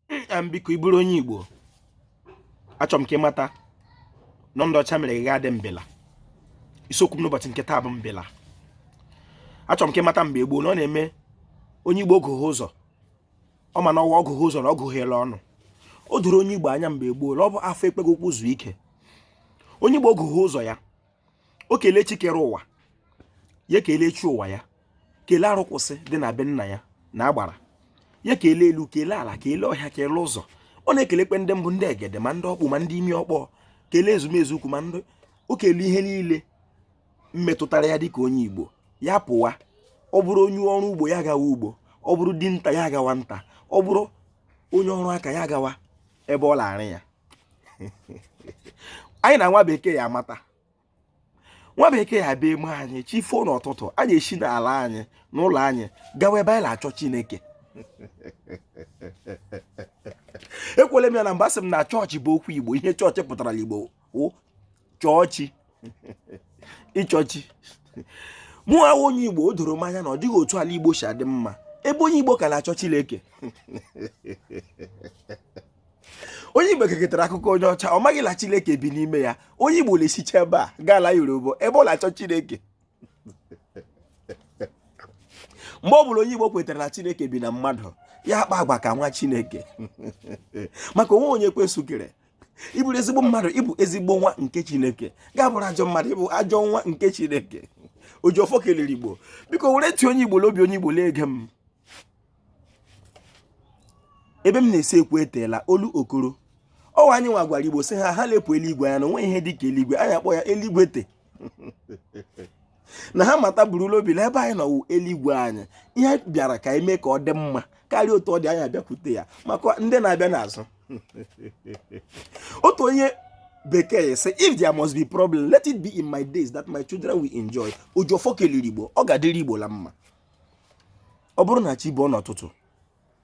nna m biko ị bụrụ onye igbo achọ m ka ị mata na ndị ọcha mere gị adị mbela isiokwu m n'ụbọchị nke taa bụ mbela achọ m ka ị mata mgbe gboo na ọ na-eme onye igbo ogụghị ụzọ ọ ma na ọwa o gughee ụzọ na o gugheela ọnụ o doro onye igbo anya mgbe gboo na ọ bụ afọ ekweghị ụkwụ zuo ike onye igbo gughee ụzọ ya o kelee chi kere ụwa ya kelee chi ụwa ya kelee arụkwụsị dị na be nna ya na agbara ya kelee elu kelee ala kelee ọhịa kelee ụzọ ọ na-ekelekwe ndị mbụ ndị egede ma ndị ọkpụ ma ndị imi ọkpọ kelee ezumezu ukwu ma ndị o kelee ihe niile metụtara ya dịka onye igbo ya pụwa ọ bụrụ onye ọrụ ugbo ya gawa ugbo ọ bụrụ dinta ya gawa nta ọ bụrụ onye ọrụ aka ya gawa ebe ọ la-arụ ya anyị na nwa bekee ya amata nwa bekee ya bịa eme anyị chi foo n'ụtụtụ anyị esi n'ala anyị n'ụlọ anyị gawa ebe anyị na-achọ chineke ekwuola m ya na mbụ asị m na chọọchị bụ okwu igbo ihe chọọchị pụtara n'igbo chọọ chi ịchọ chi mụ a wụ onye igbo o doro m anya na ọ dịghị otu ala igbo si adị mma ebe onye igbo ka na-achọ chineke onye igbo keketara akụkọ onye ọcha ọ maghị na chineke bi n'ime ya onye igbo na-esicha ebe a gaa ala yoruba ebe ọ na-achọ chineke mgbe ọ bụla onye igbo kwetara na chineke bi na mmadụ ya akpa agwa ka nwa chineke maka o nwe onye ekwensu kere ị bụrụ ezigbo mmadụ ị bụ ezigbo nwa nke chineke gị abụrụ ajọ mmadụ ị bụ ajọ nwa nke chineke ojiọfọ kelere igbo biko were ntị onye igbo n'obi onye igbo na-ege m ebe m na-esi ekwu eteela olu okoro ọwa anyị nwa gwara igbo sị ha ha lepụ eluigwe anya na o nwe ihe dị ka eluigwe anyị akpọ ya eluigwe te na ha mata buru la obi na ebe anyị nọ wụ eluigwe anyị ihe bịara ka anyị mee ka ọ dị mma karịa otu ọ dị anyị abịakwute ya maka ndị na-abịa n'azụ otu onye bekee sị if there must be problem let it be in my days that my children will enjoy ojiọfọ kelere igbo ọ ga-adịrị igbo la mma ọ bụrụ na chi bọọ n'ụtụtụ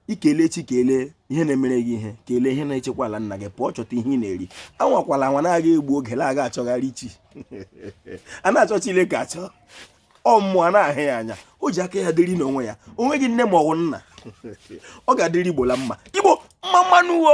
i kelee chi kelee ihe na-emere gị ihe kelee ihe na-echekwa ala nna gị pụọ chọta ihe ị na-eri anwakwala anwa na-aga egbu oge na-aga achọgharị chi a na-achọ Chineke achọ ọ mmụọ a na-ahụ ya anya o ji aka ya dịrị n'onwe ya o nweghị nne ma ọ bụ nna ọ ga-adịrị igbo la mma igbo mma mma nụ wo